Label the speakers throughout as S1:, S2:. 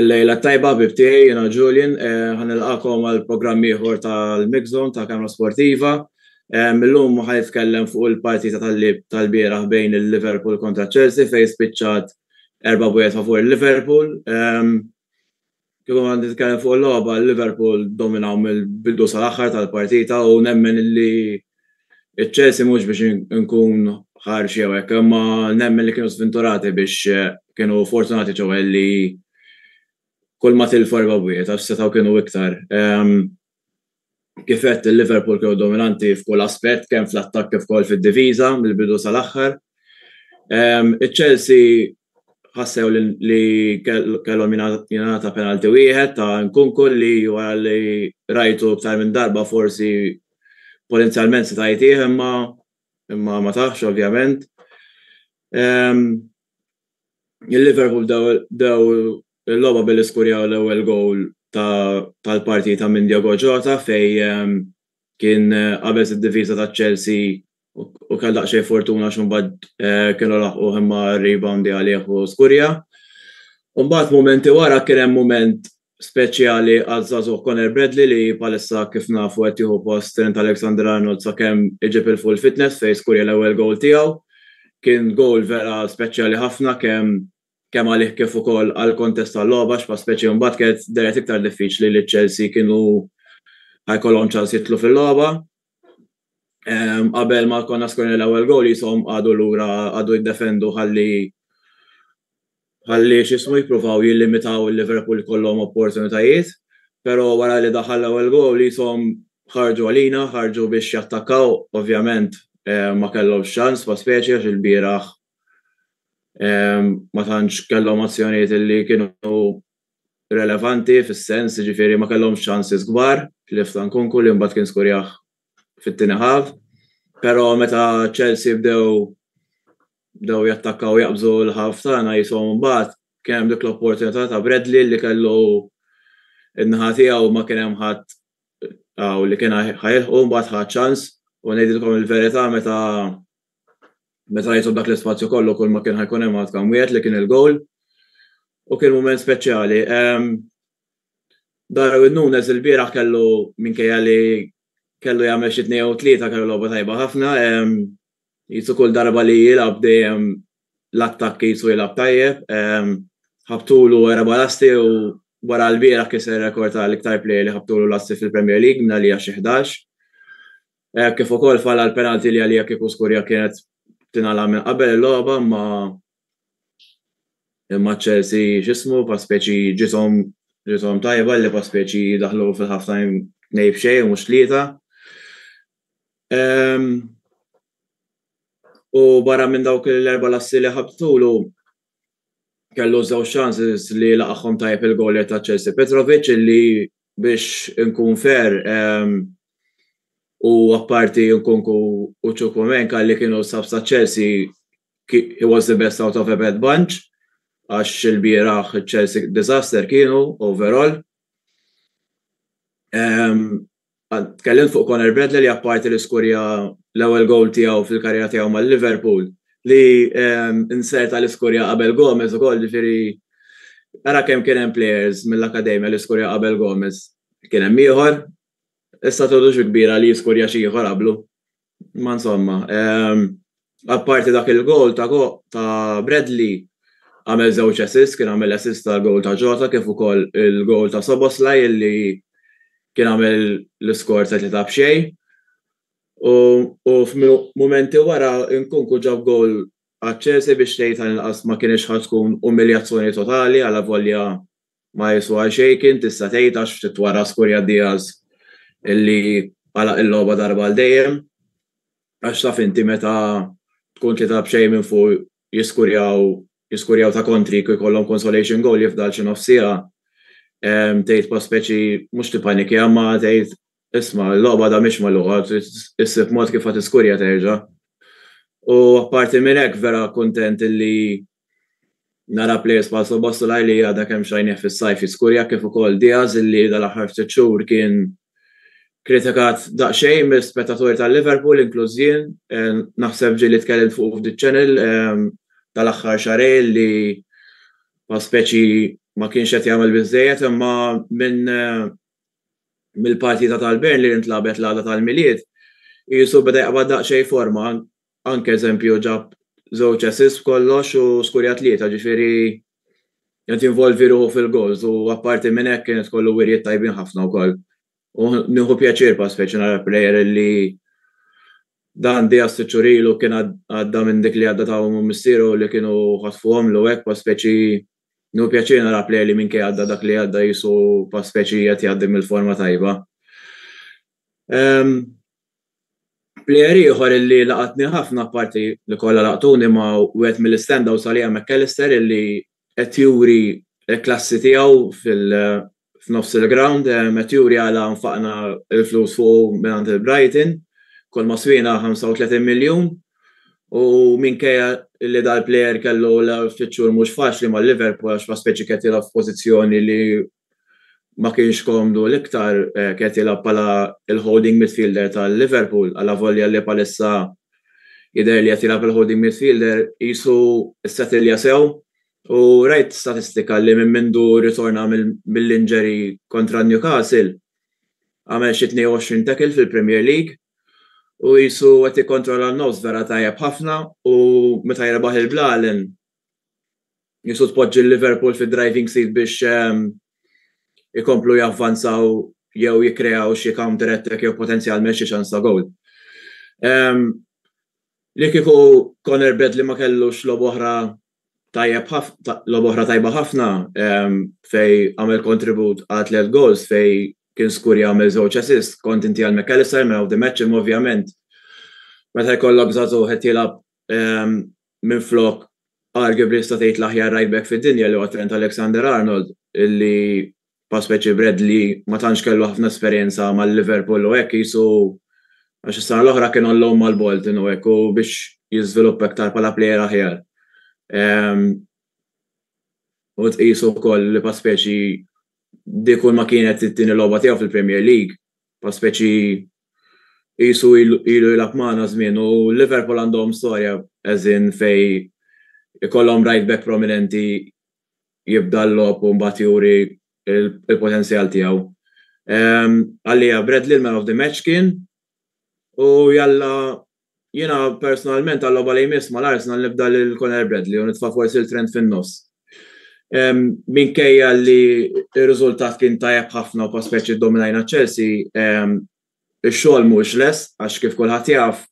S1: Il-lejla tajba ħbib tiegħi jiena Julian, eh, ħanilqakom għal programm ieħor tal-Mixzone ta' Kamra Sportiva. Eh, millum ħaj jitkellem fuq il-partita tal-lib tal-bieraħ bejn il-Liverpool kontra Chelsea fejn spiċċat erba' bwiet favur il-Liverpool. Ehm, Kieku għandi nitkellem fuq il-logħba, Liverpool dominaw mill-bidu sal-aħħar tal-partita u nemmen illi ċ-Chelsea mhux biex inkun ħarx jew hekk, imma nemmen li kienu żvinturati biex kienu fortunati ċewwa illi kulma tilfu erba' bwiet għax setgħu kienu iktar. Kif għedt, il-Liverpool kienu dominanti f'kull aspett, kemm fl-attakk kif ukoll fid-diviża mill-bidu sal-aħħar. Iċ-Chelsea ħassew li kellhom jingħata penalty wieħed ta' Nkunku li wara li rajtu iktar minn darba forsi potenzjalment seta' jtih imma imma ma tahx ovvjament. Il-Liverpool bdew bdew Il-logħba billi skurjaw l-ewwel gowl tal-partita minn Diogo Jota fejn kien qabeż id-difiża ta' Chelsea u kellu daqsxejn fortuna għax imbagħad kienu laħquh imma reboundja għalih u skurja. Imbagħad mumenti wara kien hemm mument speċjali għaż-żagħżugħ Conor Bradley li bħalissa kif nafu qed jieħu post Trent Alexander-Arnold sakemm iġib 'il full fitness fejn skurja l-ewwel gowl tiegħu. Kien gowl vera speċjali ħafna kemm kemm għalih kif ukoll għall-kontest tal-logħba għax bħala speċi mbagħad kienet dehret iktar diffiċli li Chelsea kienu ħa jkollhom ċans jidħlu fil-logħba. Qabel ma konna skorna l-ewwel goal jisom għadu lura għadu jiddefendu ħalli ħalli x'ismu jippruvaw jillimitaw il-Liverpool kollhom opportunitajiet, però wara li daħal l-ewwel goal jisom ħarġu għalina, ħarġu biex jattakkaw, ovvjament ma kellhomx ċans bħala speċi għax il-bieraħ ma tantx kellhom azzjonijiet li kienu relevanti fis-sens ġifieri ma kellhomx ċansis kbar tlif ta' Nkunku li mbagħad kien skurjah fit-tieni ħaf. Però meta Chelsea bdew bdew jattakkaw jaqbżu l-ħaf tagħna jishom mbagħad kien hemm dik l-opportunità ta' Bradley li kellu in-naħa tiegħu ma kien hemm ħadd li kien ħajilħqu mbagħad ħa ċans u ngħidilkom il-verità meta Meta jitlu dak l-ispazju kollu kull ma kien ħajkun hemm għad kam wieħed li kien il-goal. U kien mument speċjali. Darwin Nunez il-bieraħ kellu minkejja li kellu jagħmel xi tnejn jew tlieta kellu logħba tajba ħafna. Qisu kull darba li jilgħab dejjem l-attakk qisu jilgħab tajjeb. Ħabtulu erba' lasti u wara l-bieraħ kiser rekord għal iktar plejer li ħabtulu lasti fil-Premier League mingħalija xi ħdax. Hekk kif ukoll fall għal penalty li għalija kieku Skurja kienet tingħalaq minn qabel il-logħba imma imma Chelsea x'ismu fa' speċi ġiethom ġiethom tajba li fa' speċi daħlu fil-half time tnejn f'xejn mhux tlieta. U barra minn dawk l-erba' lassi li ħabtulu kellu żewġ chances li laqagħhom tajjeb il-gowlier ta' Chelsea Petrovic li biex inkun fair, u apparti Nkunku u Chukwuemeka li kienu subs ta' Chelsea, he was the best out of a bad bunch, għax ilbieraħ Chelsea disaster kienu overall. Tkellimt fuq Conor Bradley li apparti li skurja l-ewwel goal tiegħu fil-karriera tiegħu ma' Liverpool, li inserta l-iskurja qabel Gomez ukoll, ġifieri ara kemm kien hemm players mill-akademja li skurja qabel Gomez. Kien hemm ieħor, issa tgħodu xi kbira li jiskurja xi ieħor qablu. Ma insomma, apparti dak il-goal ta' Bradley, għamel żewġ assists, kien għamel assist għall-goal ta' Jota kif ukoll il-goal ta' Szoboszlai li kien għamel l-iskor ta' tlieta b'xejn. U f'mumenti wara Nkunku ġab gowl għaċ-Chelsea biex tgħid għal inqas ma kinitx ħa tkun umiljazzjoni totali alavolja ma jiswa xejn kien tista' tgħid għax ftit wara skurja Diaz li għalaq il-logħba darba għal dejjem. Għax taf inti meta tkun tlieta b'xejn minn fuq jiskurjaw jiskurjaw ta' kontri kif ikollhom consolation gowl jifdal xi nofs siegħa tgħid bħal speċi mhux tippanikja imma tgħid Isma', il-logħba għadha mhix magħluqa, trid issib mod kif ħa tiskurja terġa'. U apparti minn hekk vera kuntent illi nara plejers bħal Szoboszlai li għadha kemm xajnieh fis-sajf jiskurja kif ukoll Diaz illi dal-aħħar ftit xhur kien kritikat daqsxejn mill-spettaturi tal-Liverpool inkluż jien, naħseb ġieli tkellimt fuqu f'The Channel dal-aħħar xahrejn li bħal speċi ma kienx qed jagħmel biżżejjed imma minn mill-partita tal-Bern li ntlagħbet l-għada tal-Milied, qisu beda jaqbad daqsxejn forma, anke eżempju ġab żewġ assists b'kollox u skurja tlieta, ġifieri qed jinvolvi ruħu fil-gowls u apparti minn hekk kienet kollu wirjiet tajbin ħafna wkoll. U nieħu pjaċir bħal speċi nara plejer li dan Diaz sitt xhur ilu kien għadda minn dik li għadda ta' ommu missieru li kienu ħatfuhomlu hekk bħal speċi Nu pjaċir nara play li minkejja għadda dak li għadda jisu pa' speċi qed jgħaddi mill-forma tajba. Plejer ieħor illi laqatni ħafna parti li kollha laqtuni ma wieħed mill-istandout għalija McAllister illi qed juri l-klassi tiegħu f'nofs il-ground qed juri għala nfaqna l-flus fuqu mingħand il-Brighton. Kull ma swiena 35 miljun u minkejja li dal-plejer kellu ftit xhur mhux faċli ma' Liverpool għax ma spiċċa qiegħed jilgħab f'pożizzjoni li ma kienx komdu l-iktar, qiegħed jilgħab bħala l-holding midfielder ta' Liverpool alavolja li bħalissa jidher li qed jilgħab il-holding midfielder qisu ssetilja sew U rajt statistika li minn mindu ritorna mill-injury kontra Newcastle għamel xi 22 tackle fil-Premier League u qisu qed jikkontrolla n-nofs vera tajjeb ħafna u meta jirbaħ il-Blalen qisu tpoġġi l-Liverpool fid-driving seat biex ikomplu javvanzaw jew jikkreaw xi counter attack jew potenzjalment xi ċans ta' gowl. Li kieku Conor Bradley ma kellux logħba oħra tajjeb ħafna, logħba oħra tajba ħafna ehm, fej għamel kontribut għal tliet goals fej kien skur jagħmel żewġ assist kont inti għal McAllister man of the match imma ovvjament meta jkollok żagħżu qed jilgħab ehm, minn flok arguably sta tgħid l-aħjar right back fid-dinja li huwa Trent Alexander Arnold illi bħal speċi Bradley ma tantx kellu ħafna esperjenza ma' Liverpool u hekk qisu għax is-sena l-oħra kien on loan mal-Bolton u hekk u biex jiżviluppa iktar bħala plejer aħjar. Ehm, u tqisu wkoll li pa speċi di kull ma kienet it-tieni logħba tiegħu fil-Premier League, pa speċi qisu ilu jilgħab magħna żmien u Liverpool għandhom storja eżin fej ikollhom right back prominenti jibda l-logħob u mbagħad juri l-potenzjal tiegħu. Għalija Bradley l-man of the match kien u jalla jiena personalment għal-logħba li jmiss mal-Arsenal nibda lil Conor Bradley u nitfa' forsi l-Trent fin-nofs. Minkejja li r-riżultat kien tajjeb ħafna u pass speċi ddominajna Chelsea, Ix-xogħol mhuwiex lest għax kif kulħadd jaf,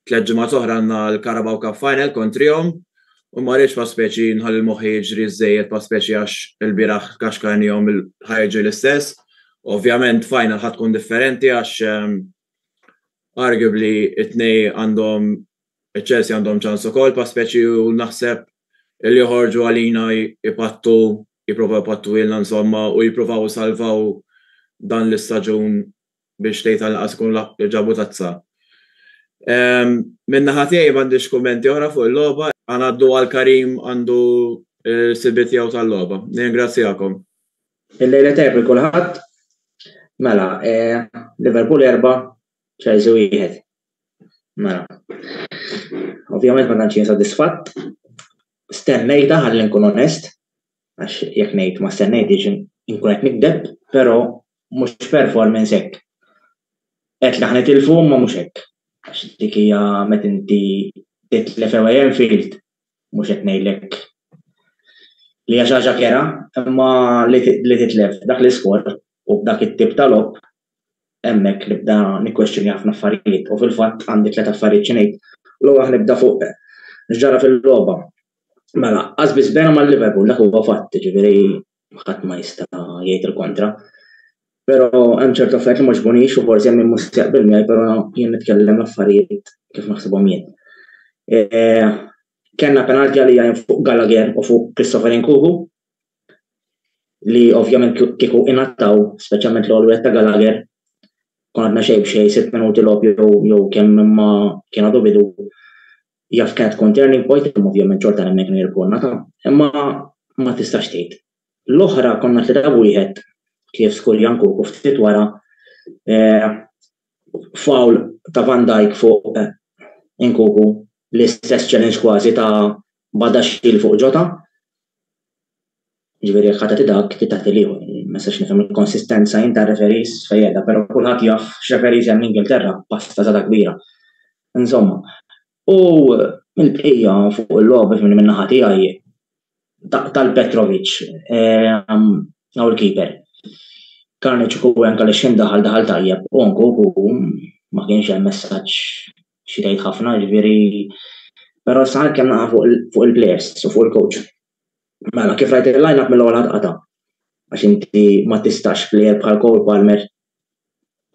S1: tliet ġimgħat oħra għandna l-Carabao Cup Final kontrihom u ma rridx bħal speċi nħalli moħħi jiġri ż-żejjed bħal speċi għax ilbieraħ kaxkarnihom ħa jiġri l-istess. Ovvjament final ħa tkun differenti għax arguably it-tnej għandhom iċ-Chelsea għandhom ċans ukoll bħal speċi u naħseb li joħorġu għalina jpattu jipprovaw jpattu ilna insomma u jippruvaw isalvaw dan l-istaġun biex tgħid anqas ikun laħqu ġabu tazza. Minn naħa tiegħi m'għandix kummenti oħra fuq il-logħba, ħa ngħaddu għal Karim għandu l-ħsibiet tiegħu tal-logħba. Nirringrazzjakom. Il-lejla
S2: tajjeb lil kulħadd. Mela, Liverpool erba', Chelsea wieħed. Mela. Ovvjament ma tantx jien sodisfatt. Stennejta ħalli nkun onest. għax jekk ngħid ma stennejtix inkun qed nikdeb, però mhux performance hekk. Qed li ħnitilfu ma mhux hekk. Għax dik hija meta inti titlef ewwel Enfield mhux qed ngħidlek li hija xi ħaġa kera, imma li titlef dak l-iskor u b'dak it-tip ta' logħob hemmhekk nibda nikkwestjoni ħafna affarijiet u fil-fatt għandi tliet affarijiet xi ngħid. L-ewwel nibda fuq x'ġara fil-logħba. Mela, qasbis bena ma' Liverpool dak huwa fatt, ġifieri ħadd ma jista' jgħid il-kontra. Però hemm ċertu affarijiet li ma ġbunix u forsi hemm min mhux jaqbel miegħi, però jien nitkellem l-affarijiet kif naħsibhom jien. E, Kenna penalti għalija fuq Gallagher u fuq Christopher Nkugu, li ovvjament kieku ingħataw, speċjalment l-għol wieħed ta' Gallagher, kon għadna xejn b'xejn sitt minuti logħob jew jew kemm imma kien għadu bidu jaf kienet tkun turning point imma ovvjament xorta hemmhekk minn irkonna ta' imma ma tistax tgħid. L-oħra konna tlieta wieħed kif skurjan kuku ftit wara eh, foul ta' Van Dijk fuq Nkunku l-istess challenge kważi ta' Badaxxil fuq Jota. Ġifieri jekk ħadd dak, trid tagħti l-ieħor. Ma nistax nifhem il-konsistenza jien tar-referees fejn qiegħda, però kulħadd jaf x'referees hemm l-Ingilterra, pasta żgħada kbira. Insomma, U mill-bqija fuq il-logħba minn minn naħa tiegħi tal-Petrovic għaw il-keeper. Karniċ u għen kalli xim daħal daħal tajjeb u anku u ma kienx hemm messaġġ xi tgħid ħafna ġifieri però sa kemm naqa' fuq il-players u fuq il-coach. Mela kif rajt il-line up mill-ewwel qata' għax inti ma tistax plejer bħal Cole Palmer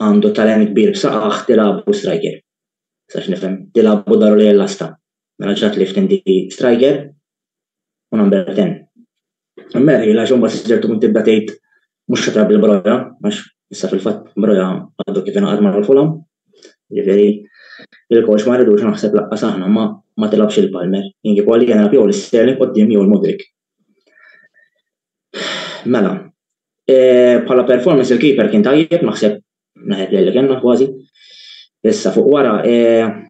S2: għandu talent kbir b'saqajh tilgħabu striker. Sax nifhem, tilgħabu daru lejn l-għasta. Mela ġrat lift inti striker u number ten. Merħil għax imbagħad siġer tkun tibda tgħid mhux xatra bil-broja għax issa fil-fatt broja għadu kif ingħaqad ma' l-fulam. Ġifieri il-coach ma rridux naħseb laqqas aħna ma ma tilgħabx il-Palmer. Jien kieku għalija nilgħab jew l-Sterling quddiem jew il-Mudrik. Mela, eh, bħala performance il-keeper kien tajjeb, naħseb naħed li kellna kważi. Issa fuq wara, eh,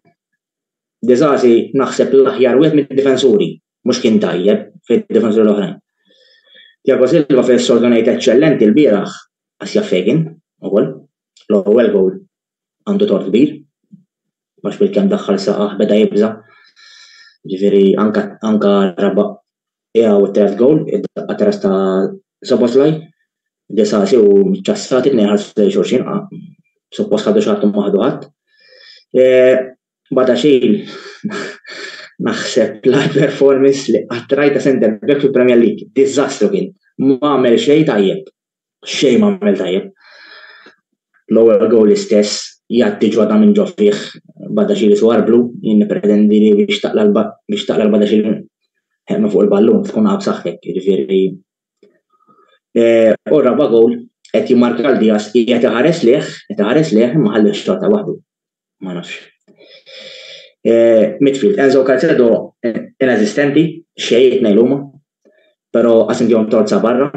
S2: Dizazi naħseb l-aħjar wieħed mid-difensuri, mhux kien tajjeb fid-difensuri l-oħrajn. Tiago Silva fil-sordonajt eċċellenti l-bieraħ għas jaffegin, ukoll, l-ewwel gowl għandu tort kbir, għax bil-kemm daħħal saqajh beda jibża'. Ġifieri anke anke raba' qiegħu u t-tielet gowl, id-daqqa ta' ras ta' Soboslaj, Disasi u Ċassati tnejn ħarsu lejn xulxin, suppost ħadu xi ma ħadu ħadd. Bada xejn naħseb l-għar performance li qatt rajt ta' centre back fil-Premier League. Diżastru kien, ma għamel xejn tajjeb. xejn ma għamel tajjeb. L-ewwel gowl l-istess, jgħatti ġwada minn ġo fih, Badaxili twarblu, jien nippretendi li biex taqla' biex taqla' l-Badaxili minn fuq il-ballun tkun għab saħħtek, jiġifieri. U r-raba' gowl qed jimmarka lil Diaz, qiegħed iħares lejh, qed iħares lejh imma ħallih xorta waħdu. ma nafx. Eh, midfield, Enzo Calcedo eh, inesistenti, xejn nejn huma, però għas indihom torza barra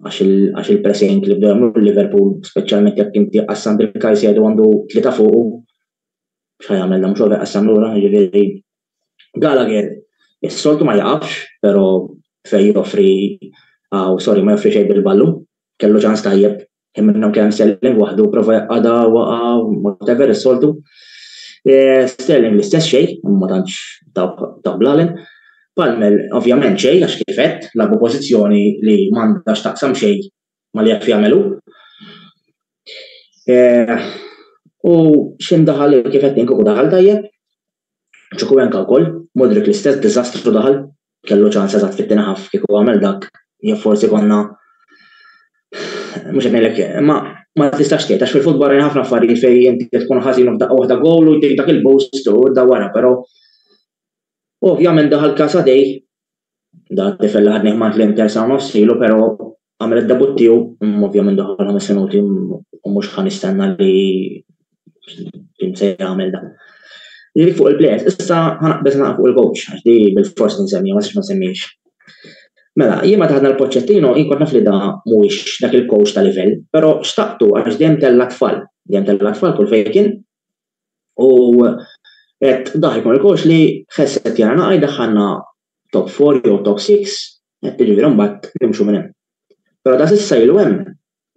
S2: għax il-pressing li bdew jagħmlu Liverpool, speċjalment jekk inti qassam il-Calcedo għandu tlieta fuqu, xa jagħmel mhux over qassam lura, ġifieri Gallagher is-soltu ma jaqafx, però fej joffri għaw, sorry, ma joffri xejn bil-ballu, kellu ċans tajjeb Kien minnhom kemm Sterling waħdu prova jaqgħadha waqa' whatever is-soltu. Eh, Sterling l-istess xejn, ma tantx ta' blalen. Palmer ovvjament xejn għax kifet labu pożizzjoni li m'għandhax taqsam xejn ma li jaf jagħmelu. Eh, u x'indaħal kifet ninkuku daħal tajjeb, Ċukuenka wkoll, Mudryk l-istess diżastru daħal, kellu ċans eżatt fit-tieni half kieku għamel dak jew forsi konna mhux qed ngħidlek imma ma tistax tgħid għax fil-futbol rajna ħafna affarijiet fejn inti tkun ħażin u f'daqqa waħda gowl u jtik dak il-boost u da wara però ovvjament daħal Kasadej Da tifel ħadni ħmat l-Inter sa' nofsilu, pero għamil id-debut tiegħu, mm, ovvjament daħal ħames minuti mm, u mhux ħan istenna li kien se jagħmel dan. Li fuq il-plejers, issa ħanaqbeż naqqa fuq il-coach, għax di bil-fors nsemmi, ma s ma semmiex. Mela, jien ma taħdna l-poċċettino, jien kont naf li da mhuwiex dak il-coach ta' livell, pero xtaqtu għax dejjem tella tfal, dejjem tella tfal kull fejn kien, U qed daħi Markox li ħesset jara naqaj daħħalna top 4 jew top 6, jiġifieri mbagħad nimxu minn hemm. Però ta' s'issa ilu hemm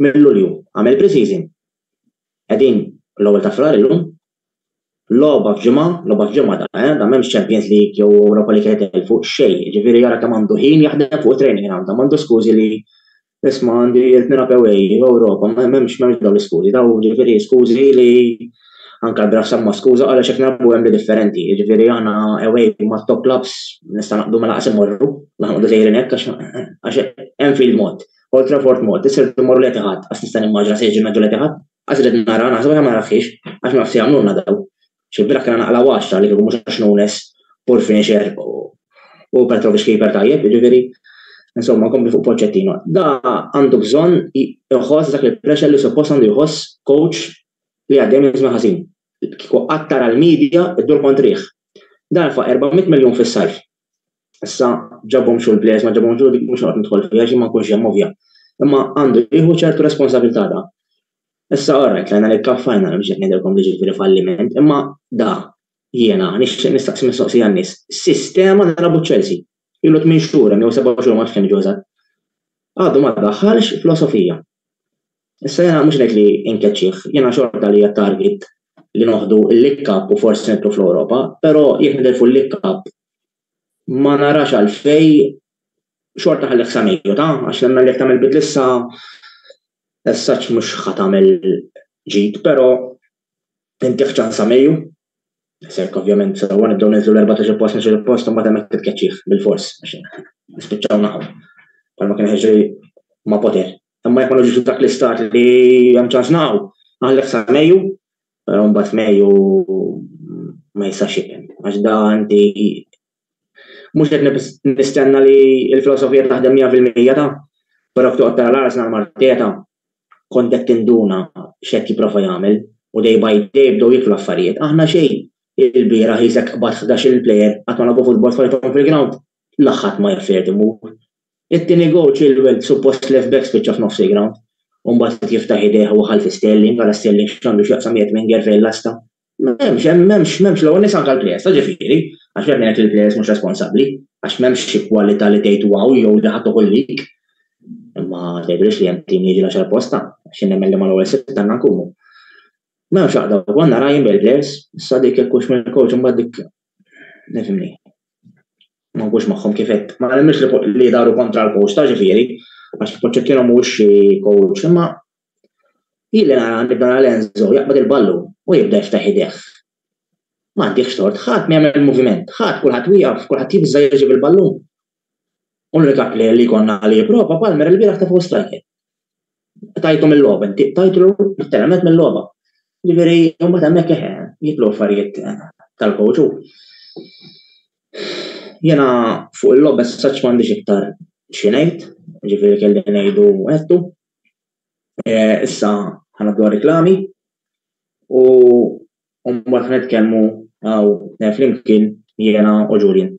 S2: minn Lulju, għamel pre-season. Qegħdin l-ewwel ta' Frar illum. Logħba f'ġimgħa, logħba f'ġimgħa da, eh, da m'hemmx Champions League jew Europa League qed itelfu, xejn, jiġifieri jara kemm għandu ħin jaħdem fuq it-training ground, da m'għandux skużi li Isma' għandi jirt nilgħab away, Ewropa, m'hemmx dawn l-iskużi, dawn jiġifieri skużi li anke l-Graf semma skuża għaliex qed nilgħabu hemm li differenti, jiġifieri aħna away mat-top clubs nista' naqbdu ma lanqas immorru, la noqogħdu sejrin hekk għax Anfield mod, Old Trafford mod, issa rridu mmorru l-Etihad, qatt nista' nimmaġina se jiġri l-Etihad, qatt irrid nara, naħseb aħjar ma naraħħiex għax ma nafx se jagħmlulna dawn, Xi bira kellha naqla waċta li kieku mhux għax Nunes, Paul finisher u Petrovic keeper tajjeb, jiġifieri insomma nkompli fuq Pochettino. Da għandu bżonn iħoss dak il-pressure li suppost għandu jħoss coach li għaddej minn żmien ħażin. Kieku qatt tara l-media ddur kontrih. Dan fa' 400 miljun fis-sajf. Issa ġabhom xogħol plejers ma ġabhom xogħol dik mhux noqgħod nidħol fiha xi ma nkunx hemm ovvja. Imma għandu jieħu ċertu responsabilità da. Issa orrajt lajna li kaf fajna li mxejt ngħidilkom li ġifieri falliment, imma da jiena nixtieq nistaqsi mistoqsija n-nies. Sistema li labu Chelsea. Ilu tmien xhur hemm jew seba' xhur ma nafx kemm ġew eżatt. Għadu ma daħħalx filosofija. Issa jiena mhux ngħid li inkeċċih, jiena xorta li t-target li noħdu l-League Cup u forsi nidħlu fl-Ewropa, però jekk nitilfu l-League Cup ma narax għalfejn xorta nħallih sa Mejju, ta? Għax nemmen li jekk tagħmel bidla issa as such mhux ħa tagħmel ġid, però intih ċans sa Mejju. Sek ovvjament sewwa nibdew ninżlu l-14 post nixu post u mbagħad hemmhekk titkeċċih bil-fors għax nispiċċaw naħu. Palma kien ħeġri ma' Poter Imma jekk ma nġux dak l-istat li hemm ċans naqgħu, għalhekk sa Mejju, però mbagħad Mejju ma jistax ikun. Għax da għandi mhux qed nistenna li l-filosofija taħdem 100% ta' però toqgħod tara l-Arsenal Marteta kont qed tinduna x'qed jipprova jagħmel u day by day bdew jiklu affarijiet. Aħna xejn il-bieraħ jisek qbad 11 il-plejer qatt ma lagħbu futbol f'ħajthom fil-ground. laħħat ma jaf fejn imur. It-tieni goal Chilwell suppost left back spiċċa f'nofs il-ground u mbagħad qed jiftaħ idejh u waħħal fi Sterling, ara Sterling x'għandu x'jaqsam qiegħed minn Ger fejn lasta. M'hemmx, m'hemmx, m'hemmx l-ewwel nies anke l-plejers ta' ġifieri, għax jekk ngħid li l-plejers mhux responsabbli, għax m'hemmx xi kwalità li tgħid wow jew li ħa toħol lik. Imma tgħidilix li hemm tim li jiġi l-għaxar posta, għax jien nemmen li mal-ewwel sitt għandna nkunu. M'hemmx għaqda, konna rajn bil-plejers, issa dik jekk hux mill-coach imbagħad dik nifimni. Ma nkunx magħhom kifet, ma nemminx li li daru kontra l-coach ta' ġifieri, għax Poċċettino mhux xi coach, imma jilli nara nibda nara Enzo jaqbad il-ballu u jibda jiftaħ idejh. Ma għandihx tort, ħadd ma jagħmel moviment, ħadd kulħadd wieqaf, kulħadd jibża' jiġi bil-ballun. Unika player li jkollna li jipprova Palmer il-bieraħ tefaw striker. Tajtu mill-logħba, inti tajtu l-termet mill-logħba. Ġifieri, imbagħad hemmhekk eħe, jitlu affarijiet tal-coach u Jena fuq il-logħba saċ m'għandix iktar xi ngħid, ġifieri kelli ngħidu għedtu. Eh, issa ħana dwar reklami u U mbagħad nitkellmu għaw eh, flimkien jiena u Julian.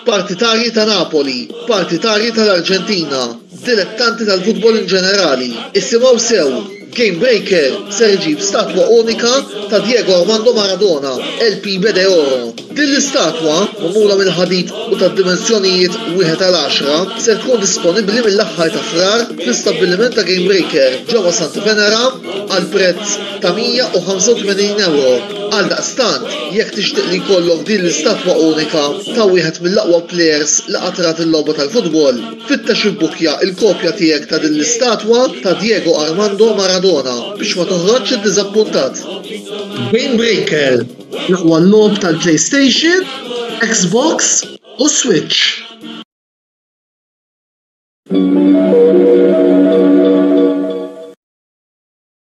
S3: partitarji ta' Napoli, partitarji tal-Arġentina, dilettanti tal-futbol in ġenerali, isimgħu sew Game Breaker ser iġib statwa unika ta' Diego Armando Maradona, El Pibe de Oro. Din l-istatwa, magħmula mill-ħadid u tad-dimensjonijiet wieħed għal għaxra, ser tkun disponibbli mill-aħħar ta' Frar fl-istabbiliment ta' Game Breaker ġewwa Santa Venera għal prezz ta' €185. Għaldaqstant, jekk tixtieq li jkollok din l-istatwa unika ta' wieħed mill-aqwa plejers li qatt rat il-logħba tal-futbol, Fittex ibbukkja l-kopja tiegħek ta' din l-istatwa ta' Diego Armando Maradona biex ma toħroġx iddiżappuntat! Game Breaker, l-aqwa logħob tal-PlayStation, Xbox u Switch.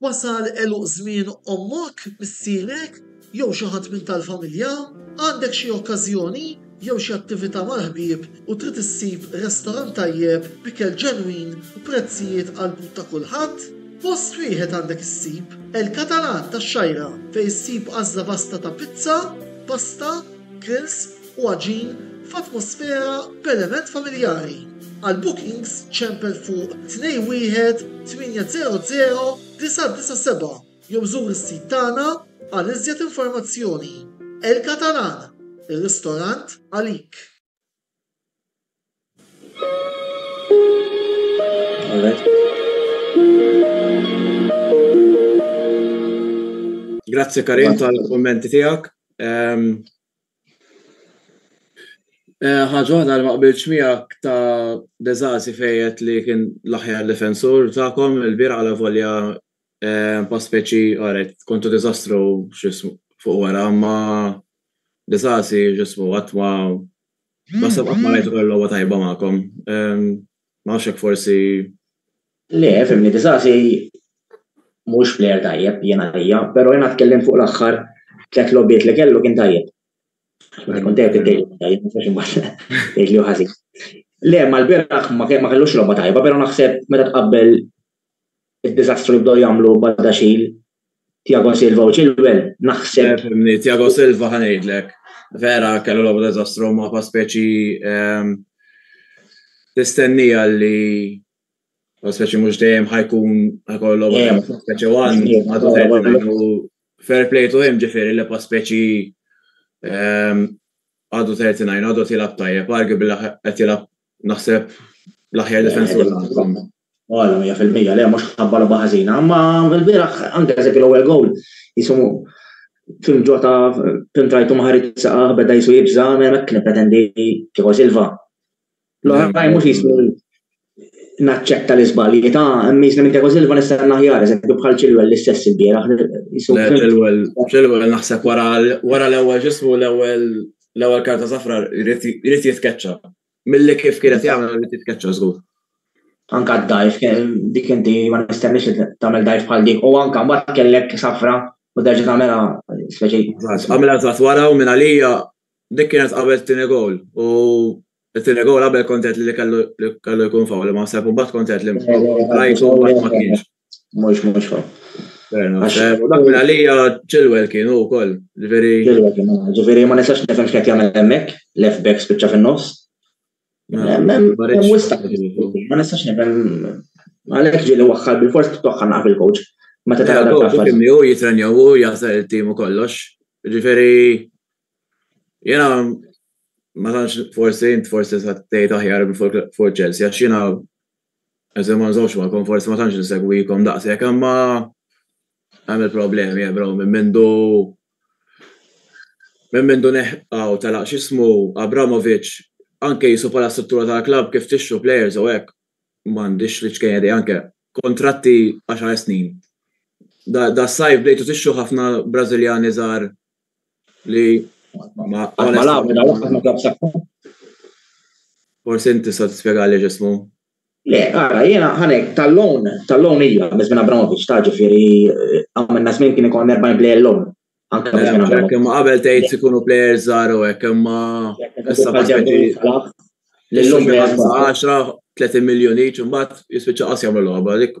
S3: Wasal għeluq żmien ommok, missierek, jew xi ħadd minn tal-familja, għandek xi okkażjoni jew xi attività mal-ħbieb u trid issib restorant tajjeb b'ikel ġenwin u prezzijiet għall-but ta' kulħadd? Post wieħed għandek issib, El Catalan tax-Xgħajra, fejn issib għażla vasta ta' pizza, pasta, grills u għaġin f'atmosfera b'element familjari. Għal bookings ċempel fuq 21800 997. Jew żur is-sit tagħna għal iżjed informazzjoni. El Catalan, ir-ristorant għalik!
S1: Grazzi Karim tal-kummenti tiegħek. Ħaġa waħda li ma qbiltx miegħek ta' De Zasi fejn għedt li kien l-aħjar difensur tagħkom ilbieraħ alavolja pa speċi qaret kontu diżastru x'ismu fuq wara imma De Zasi x'ismu qatt ma naħseb qatt ma rajtu kellu logħba tajba magħkom. Ma nafx hekk forsi. Le,
S2: fimni, Disasi mhux plejer tajjeb jien għalija, però jiena tkellimt fuq l-aħħar tliet logħbiet li kellu kien tajjeb. Meta kont tajjeb tajjeb, ma sax imbagħad tgħidli ħażin. Le, mal-bieraħ ma kellux logħba tajba, però naħseb meta tqabbel id-diżastru li bdew jagħmlu Badaxxil, Tiago Silva u Chilwell, naħseb. Tiago Silva
S1: ħa ngħidlek. Vera kellu logħba diżastru ma' pa' speċi ehm, tistennija li speċi mhux dejjem ħajkun ħajkollu logħba speċi wan għadu fair play to him ġifieri li pa' speċi ehm, għadu 39 għadu tilab tajjeb, arguably qed tilab naħseb l-aħjar defensur. Għala,
S2: 100% le, mhux ħabba logħba ħażina, imma l-bieraħ anke eżempju l-ewwel gowl jisu Tim Ġota Tim Trajtu ma ħarid saqaħ beda jisu jibża' hemmhekk kien pretendi kieku Silva. L-oħrajn mhux jismu naċċetta l-iżbalji ta' hemm jiżni minn kieku Silva nista' naħjar eżempju bħal Chilwell l-istess il-bieraħ.
S1: Chilwell naħseb wara l-ewwel ġismu l-ewwel l-ewwel karta safra jrid jitkeċċa. Milli kif kienet jagħmel li titkeċċa żgur. Anka
S2: d-dajf, dik inti ma nistenniex li tagħmel dajf bħal dik, u anka mbagħad kellek safra u derġa tagħmela speċi. Għamilha żgħat
S1: wara u minn għalija dik kienet qabel tieni gol u t-tieni gol qabel kontet li kellu jkun fawl ma sepp u mbagħad kontet li rajtu ma kienx. Mhux mhux fa. Dak minn għalija Chilwell kienu wkoll, ġifieri. Chilwell kienu,
S2: ġifieri ma nistax nifhem x'qed jagħmel hemmhekk, left back spiċċa fin-nofs. Ma nistax nifhem għalhekk ġieli waħħal bil-fors toħħa naqaf il-coach. Ma ta' tara dak l-affar. Kimni hu jitrenjaw hu
S1: jaħsar il-tim u kollox. Ġifieri jiena ma tantx forsi int forsi sa tgħid aħjar fuq Chelsea għax jiena eżem ma nżomx magħkom forsi ma tantx insegwikom daqshekk imma hemm il-problemi eh, bro minn mindu minn mindu neħqaw telaq x'ismu Abramovic anke jisu bħala struttura tal-klabb kif tixxu players u hekk m'għandix li ċkejja di anke kontratti 10 snin. Da, da sajf bdejtu tixxu ħafna Brażiljani żgħar Li. Ma Forsi inti sa tispjega li ġismu. Le, għara,
S2: jena ħanek, tal-lon, tal-lon ija, minn minn Abramovic, ta' ġifiri, għamil nazmin kien ikon 40 play l-lon. Anka minn minn Abramovic. Kemm qabel tgħid ikunu
S1: players żgħar u hekk, imma issa ma ġebi. L-lum 10, 30 miljoni, ċumbat jispiċċa qas jagħmlu logħba, dik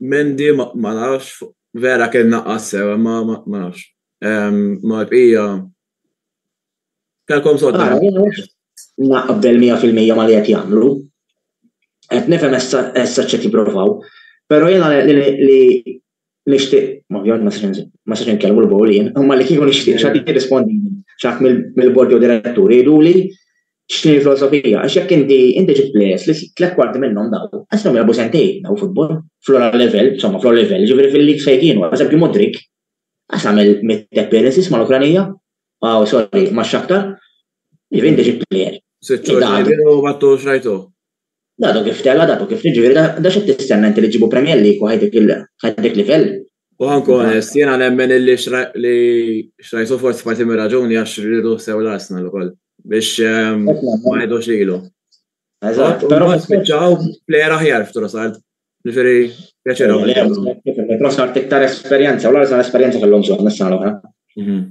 S1: Mendi ma nafx, vera kien naqqas sew, ma nafx. Ma l-bqija. Kelkom sodda. Naqbel
S2: 100% ma li qed jagħmlu. Qed nifhem issa ċet jipprovaw. Però jiena li Nixtieq, ma ovvjament ma sax ma sax inkellmu l-bowlin, imma li kieku nixtieq x'għad jirrispondi x'għad mill-bord jew diretturi jgħiduli x'ni l-filosofija, għax jekk inti inti ġibt plejers li tliet kwarti minnhom daw, għasthom jilgħabu sentejn daw futbol, fl-ogħla level, insomma fl-ogħla level, jiġifieri fil-league fejn kienu, għal eżempju Mudryk, għas għamel mitt appearances mal-Ukranija, aw sorry,
S1: max-Shakhtar,
S2: jiġifieri inti ġibt
S1: plejer.
S2: Sitt xhur
S1: ma
S2: tux rajtu. Da du kif tela, da du kif jiġifieri da da x'qed tistenna inti li ġġibu Premier League u ħaj dik livell? U ħankun onest,
S1: jiena nemmen li li xrajsu forsi parti mir-raġuni għax rridu sew l-Arsenal ukoll biex ehm, ma jgħidux lilu. Eżatt,
S2: però spiċċaw plejer
S1: aħjar f'Trossard. Ġifiri, pjaċir għamil. Proxna
S2: tiktar esperienza, u l-għarżan esperienza kellhom bżonn is-sena l-oħra. Mhm.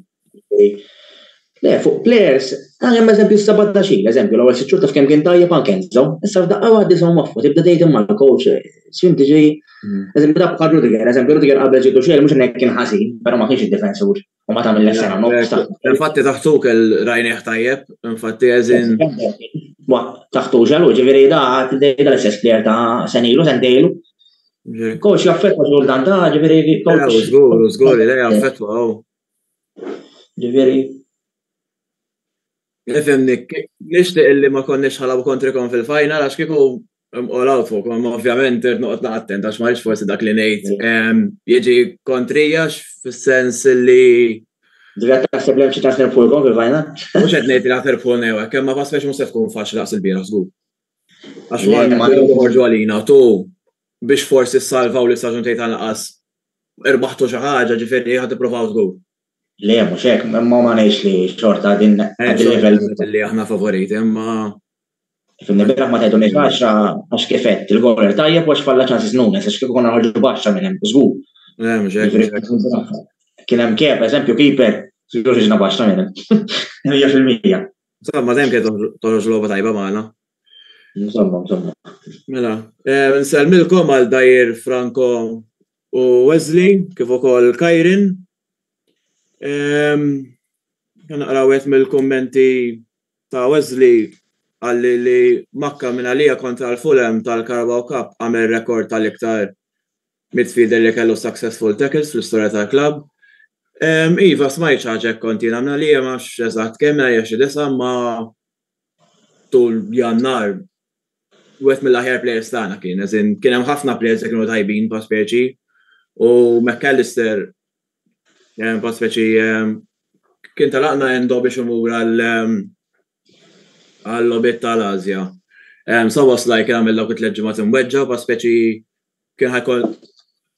S2: Le, fuq players, għajem ah, eżempju s-sabat ta' xil, eżempju, l-għol s-sċur taf kem kien tajjeb għan kenzo, issa f'daqqa għaddi sa' maffu, tibda dejt imma l-coach, s-swim tiġi, mhm. eżempju, da' bħal Rudiger, eżempju, Rudiger għabel ġidu xil, mux nek kien ħazin, pero ma kienx il-defensur. U ma tagħmel sena nofs. Infatti taħtu
S1: kell rajnieh tajjeb, infatti eżin.
S2: Taħtu ġelu, ġifieri da tidejda l-istess player ta' senilu, sentejlu. Coach jaffetwa ġur dan ta' ġifieri coach. Żgur, żgur, li
S1: jaffetwa. Oh. Ġifieri. Nifhemni, nixtieq illi ma konniex ħalabu kontrikom fil-final għax kieku I'm all out fuq, ma ovvjament irrid noqgħod naqattent għax ma forsi dak li ngħid ehm, jiġi kontrija fis-sens li Dira
S2: taħseb li hemm xi taħseb fuq ikon fil-vajna? Mhux qed ngħid li taħseb
S1: fuq new hekk, imma ma spex mhux se tkun faċli daqs il-bieraħ żgur. Għax wara ma joħorġu għalina tu biex forsi salvaw li saġun tgħid għal qas irbaħtu xi ħaġa ġifieri ħad tipprovaw żgur. Le, mhux
S2: hekk, imma ma ngħidx li xorta din il-livell. Li aħna favoriti,
S1: imma.
S2: Fil-nibira ma tgħidu ngħid għaxra għax kif qed il-goler tajjeb għax falla ċansis Nunes għax kif konna ħarġu baxxa minn hemm żgur.
S1: Kien
S2: hemm kif, eżempju, kiper, sigur ġiġna baxxa minn hemm. Hija fil-mija. Insomma, dejjem
S1: kien toħroġ logħba tajba magħna. Insomma,
S2: insomma. Mela,
S1: eh, nsellmilkom għal dajr Franco u Wesley, kif ukoll Kajrin. Naqra wieħed mill-kummenti ta' Wesley għalli li Makka minn għalija kontra l-Fulham tal-Carabao Cup għamel rekord tal-iktar midfielder li kellu successful tackles fl-istorja tal-klabb. Iva, smajt xi ħaġa hekk kont jiena minn għalija ma nafx eżatt kemm għalija xi disa' ma tul Jannar wieħed mill-aħjar players tagħna kien, as in kien hemm ħafna players li kienu tajbin pa' speċi u McAllister eh, pa' speċi eh, kien talaqna Endo biex imur għal eh, għal lobit tal-Azja. Um, so was like għamil dawk it-tliet ġimgħat imweġġa pa' speċi kien ħajkol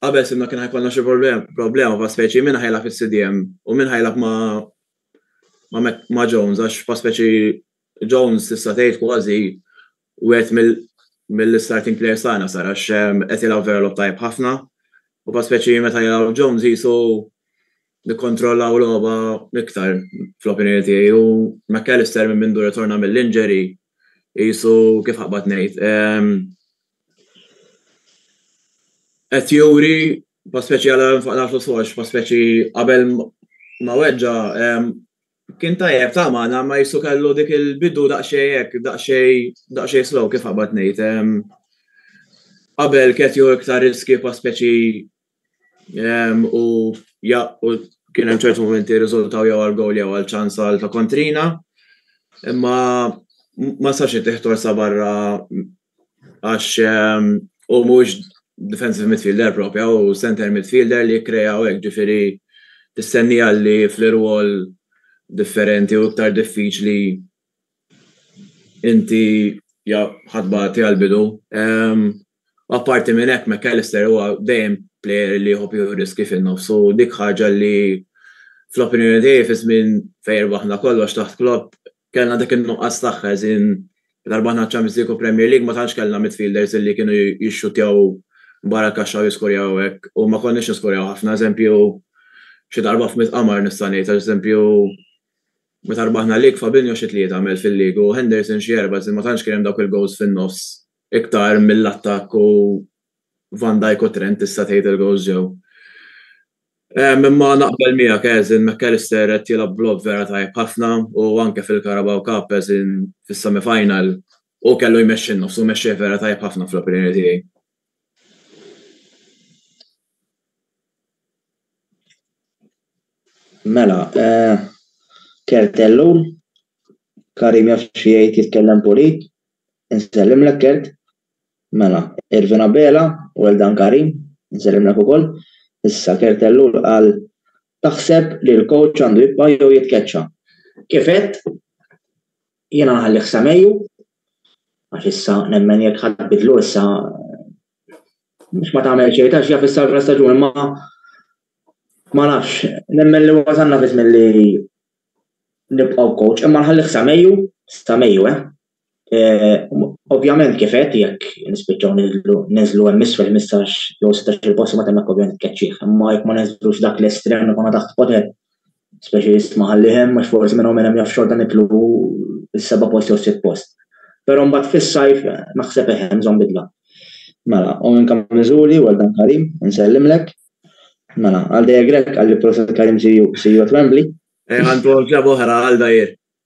S1: qabel simna kien ħajkolna xi problema pa' speċi minn ħajla fis-CDM u minn ħajla ma' ma' Jones għax pa' speċi Jones tista' tgħid kważi wieħed mill-starting players tagħna sar għax qed jilgħab vera logħob tajjeb ħafna. U pa speċi meta jilgħab Jones jisu nikkontrollaw logħba iktar fl-opinjoni tiegħi u McAllister minn mindu ritorna mill-injury jisu kif ħaqbad ngħid. Ehm, qed juri pa speċi għal nfaqna fl-soċ, pa speċi qabel ma weġġa' ehm, Kien tajjeb ta' magħna ma jissu kellu dik il-bidu daqsxejn hekk, daqsxejn daqsxejn slow kif qabad ngħid. Qabel ketju iktar riskju pa' speċi u ja u kien hemm ċertu momenti riżultaw jew għal gowl jew għal ċans għal ta' kontrina. Imma ma sax ittieħ torsa barra Għax ehm, u mhux defensive midfielder propja u center midfielder li kreja u hekk ġifieri tistenni għalli fl-irwol differenti u iktar diffiċli inti ja ħadba ti għal-bidu. Ehm, apparti minn hekk McAllister huwa dejjem player li jħobb jieħu riski fin-nofs u dik ħaġa li fl-opinjoni tiegħi fi żmien fejn baħna kollox taħt klopp Kellna dak in-nuqqas tagħha, as in meta rbaħna ċ-Champions League u Premier League ma tantx kellna midfielders illi kienu jixxutjaw barra l-kaxxa u jiskorjaw hekk u ma konniex niskorjaw ħafna. Eżempju, xi darba f'mitt qamar nista' ngħid għax eżempju meta rbaħna l-league Fabinho xi tlieta għamel fil-league u Henderson xi erba' as in ma tantx kien hemm dawk il-goals fin-nofs iktar mill-attakk u Van Dijk u Trent tista' tgħid il-gowls ġew. Ehm, imma naqbel miegħek eżin McAllister qed jilgħab vlog vera tajb ħafna u anke fil-Carabao Cup eżin fis-semi final u kellu jmexxi n-nofs u mexxih vera tajb ħafna fl-opinjoni tiegħi.
S2: Mela, eh, Kertellu, Karim jaf xi jgħid jitkellem pulit, insellimlek Kert. Mela, Irvin Abela, well done Karim, insellimlek ukoll. Issa Kurt Ellul qal, Taħseb li l-coach għandu jibqa' jew jitkeċċa? Kif għedt, jiena nħallih sa Mejju, għax issa nemmen jekk ħa tbiddlu issa mhux ma tagħmel xejn għax jaf issa l staġun imma ma nafx, nemmen li wasalna fi żmien li nibqgħu b'coach imma nħallih sa Mejju, sa Mejju eh. Ovvjament kif qed jekk nispiċċaw niżlu niżlu hemm isfel 15 jew 16 il-post ma temmek ovvjament tkeċċih. Imma jekk ma niżlux dak l-estrem li konna taħt poter, speċi jisma' ħalli hemm għax forsi minn hawn hemm jaf xorta nitlu is-seba' post jew sitt post. Però mbagħad fis-sajf naħseb eħe hemm bżonn bidla. Mela, u minn kam miżuri u dan Karim, insellimlek. Mela, għal dejja Grek għalli proset Karim si jgħod Wembley. Għandu għamġa
S1: boħra għal dajjer.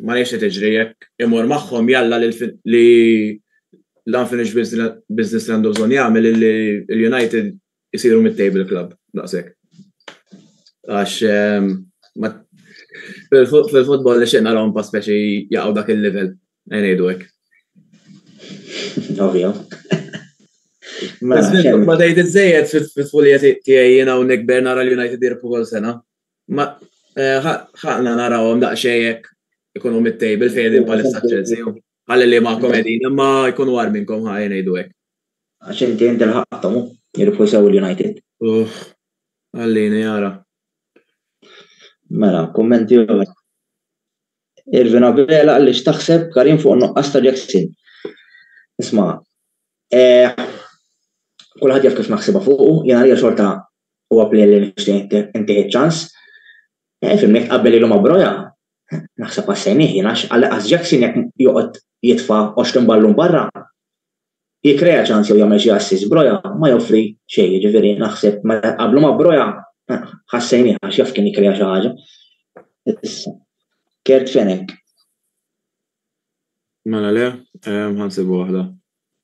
S1: Ma nafx qed iġri jekk imur magħhom jalla li l-unfinished business li għandu bżonn jagħmel li l-United isiru mid-table club daqshekk. Għax ehm, fil-futbol li xejn narahom pa speċi jaqgħu dak il-level ngħidu hekk.
S2: Ovvja.
S1: Mela, ma tgħid iżejjed fit-tfulijiet tiegħi jiena hawnhekk Bernara l-United jirpu sena. Ma ħaqna narawhom daqsxejn jekk ikunu mid-table fejn qegħdin bħalissa Chelsea. Ħalli li ma komedin imma jkunu għar minnkom ħajja ngħidu hekk. Għax inti inti
S2: l-ħaqthom hu, jirbħu sew l-United. Uff,
S1: għallini jara. Mela,
S2: kummenti oħra. Irvin Abela għalli x'taħseb Karim fuq nuqqas ta' Jackson. Isma' eh, kulħadd jaf kif naħsibha fuq, jiena hija xorta Huwa plejer li nixtieq intih iċ-ċans. Eh, fimni jekk tqabbel ilu ma' Broja, naħseb qassejnih jien għax għas Jackson jekk joqgħod jitfa' 20 ballun barra, jikkrea ċans jew jagħmel xi assist, Broja ma joffri xejn, jiġifieri naħseb meta tqabblu ma' Broja ħassejnih għax jaf kien jikkrea xi ħaġa. Issa, Kurt Fenech.
S1: Mela le, ħansibu waħda.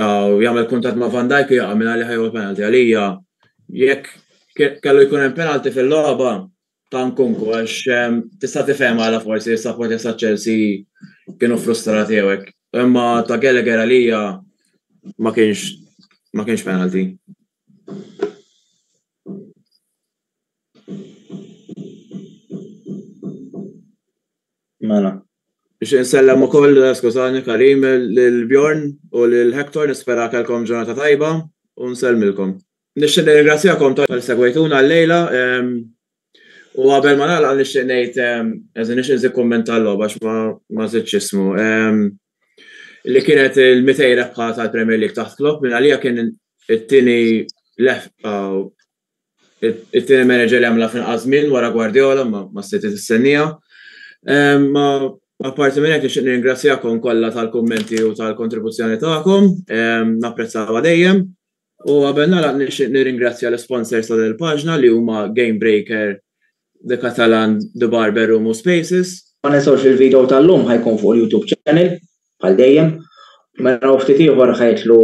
S1: u jagħmel kuntatt ma' Van Dijk u jaqa' minn għalih ħajħu l-penalty. Għalija jekk kellu jkun hemm penalty fil-logħba ta' Nkunku għax ehm, tista' tifhem għala forsi s-supporters ta' Chelsea kienu frustrati jew hekk. Imma ta' Gallagher għalija ma kienx ma kienx penalty.
S2: Mela. Nixtieq insellem
S1: ukoll, skużani Karim, lil Bjorn u lil Hector, nispera kellkom ġurnata tajba u nsellmilkom. Nixtieq nirringrazzjakom talli segwejtuna llejla u qabel ma nagħlaq nixtieq ngħid, anzi nixtieq nżid kumment tal-logħba għax ma żidtx ismu, li kienet il-200 rebħa tal-Premier League taħt Klopp minn għalija kien it-tieni lehqa it-tieni manager li għamla fil żmien wara Guardiola ma sejti tistennija. Ma apparti minn hekk nixtieq nirringrazzjakom kollha tal-kummenti u tal-kontribuzzjoni tagħkom, napprezzawha dejjem. U qabel nagħlaq nixtieq nirringrazzja l-isponsors ta' din il-paġna li huma Game Breaker, The Catalan, The Barber u Mu Spaces. Ma ninsewx li l-video
S2: tal-lum ħa jkun fuq il-YouTube channel bħal dejjem. Mela u ftit ieħor ħa jidħlu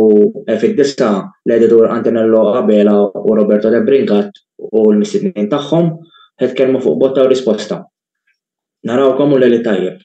S2: fid-disgħa l-editur Antonello Abela u Roberto De Brincat u l-mistednin tagħhom ħa jitkellmu fuq botta u risposta. Narawkom u lejl it-tajjeb.